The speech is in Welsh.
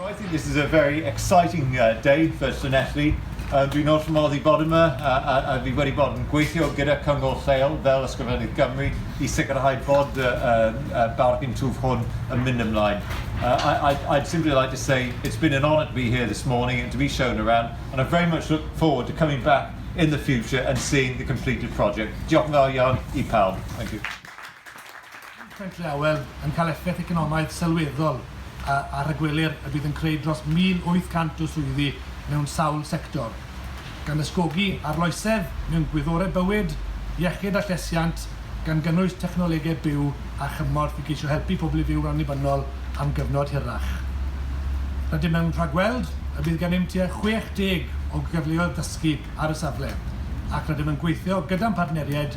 So I think this is a very exciting uh, day for Llanelli. Um, dwi'n wrth fy modd i bod yma a, a, a fi wedi bod yn gweithio gyda cyngor lleol fel Ysgrifennydd Gymru i sicrhau bod y uh, uh, bargain twf hwn yn mynd ymlaen. Uh, I, I, I'd simply like to say it's been an honour to be here this morning and to be shown around and I very much look forward to coming back in the future and seeing the completed project. Diolch yn fawr iawn i pawb. Thank you. Pentre Awel yn cael effaith economaidd sylweddol ar rhagwelir y bydd yn creu dros 1,800 o swyddi mewn sawl sector, gan ysgogi arloesedd mewn gwyddorau bywyd, iechyd a llesiant, gan gynnwys technolegau byw a chymorth i geisio helpu pobl i fyw'n annibynnol am gyfnod hirach. Rydym yn rhagweld y bydd gennym tua 60 o gyfleoedd dysgu ar y safle ac rydym yn gweithio gyda'n partneriaid